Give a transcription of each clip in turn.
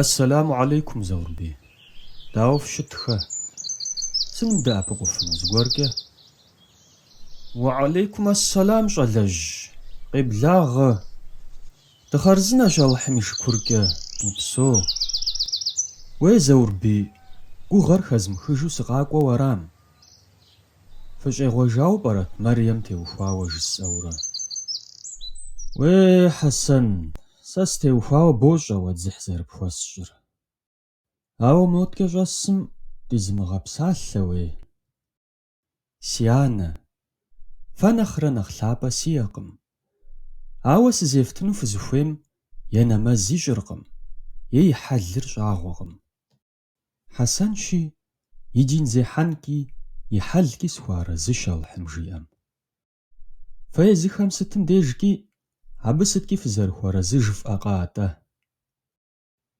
Ассэлэму алейкум, Заурбий. Дауэ фщыт, хэ? Сынывдэӏэпыкъуфыну, зыгуэркӏэ? Уэалейкум ассэлам, щӏалэжь. Къеблагъэ. Дыхъарзынэщ Алыхьым и шыкуркӏэ, упсо. Уей, Заурбий, гугъэр хэзмыхыжу сыкъакӏуэу арам? Фыщӏегъуэжауэ пӏэрэ? Мэрием теухуауэ жысӏэурэ. Уей, Хьэсэн, сэ стеухуауэ бощӏэ уэ дзыхь зэрыпхуэсщӏыр. Ауэ моткӏэ щӏэсым дызимыгъэпсалъэу, ей. Си анэ, фэ нэхърэ нэхъ лъапӏэ сиӏэкъым. Ауэ сызефтыну фызыхуейм е нэмэз ищӏыркъым, е и хьэлыр щӏагъуэкъым. Хьэсэнщи, и дин зехьэнкӏи, и хьэлкӏи сыхуэарэзыщ Алыхьым жиӏэм. Фэ езыхэм сытым дежкӏи, абы сыткӏи фызэрыхуэарэзы жыфӏэкъэ атӏэ?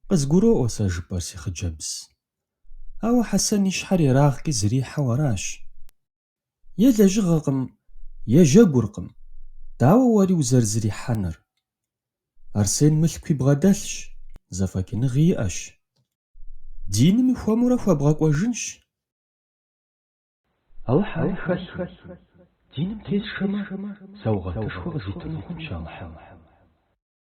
Къызгуроӏуэ сэ жыпӏэр си хъыджэбз. Ауэ Хьэсэн и щхьэр ерагъкӏи зрихьэу аращ. Е лэжьыгъэкъым, е жьэгуркъым, дауэ уэри узэрызрихьэныр? Арсен мылъкуи бгъэдэлъщ, зэфӏэкӏыныгъи иӏэщ. Динми хуэмурэ хуэбгъэкӏуэжынщ. Алыхь ари хэлъу, диным тезышэмэ, саугъэтышхуэ къызитыну хъунщ Алыхьым.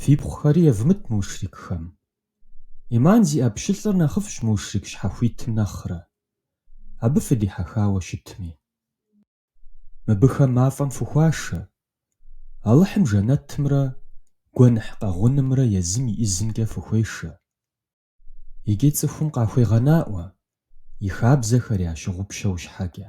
Фипхъухэри евмыт мушрикхэм. Иман зиӏэ пщылӏыр нэхъыфӏщ мушрик щхьэхуитым нэхърэ, абы фыдихьэхауэ щытми. Мыбыхэм мафӏэм фыхуашэ, Алыхьым жэнэтымрэ гуэныхь къэгъунымрэ езым и ӏизымкӏэ фыхуешэ. Икӏи цӏыхум къахуегъэнаӏуэ, и хабзэхэр ящымыгъупщэн щхьэкӏэ.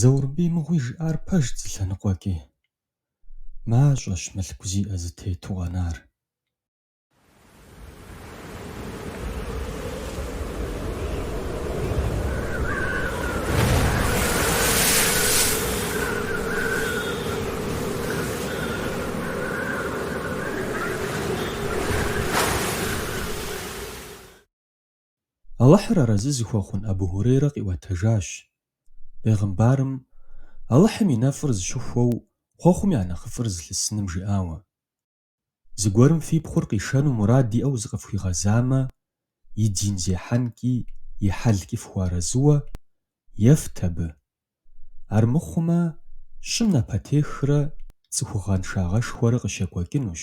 Заурбий мыгъуи жиӏар пэжт зы лъэныкъуэкӏи. Мащӏэщ мылъку зиӏэ зытету къэнар. Алыхьыр арэзы зыхуэхъун Абу Хьурейрэ къиӏуэтэжащ, Бегъымбарым, Алыхьым и нэфӏыр зыщыхуэу хъуэхъум я нэхъыфӏыр зылъысыным жиӏауэ, Зыгуэрым фи пхъур къишэну мурад иӏэу зыкъыфхуигъэзамэ, и дин зехьэнкӏи и хьэлкӏи фыхуэарэзыуэ, ефт абы. Армыхъумэ, щӏым напэтехрэ цӏыхугъэншагъэшхуэрэ къыщекӏуэкӏынущ.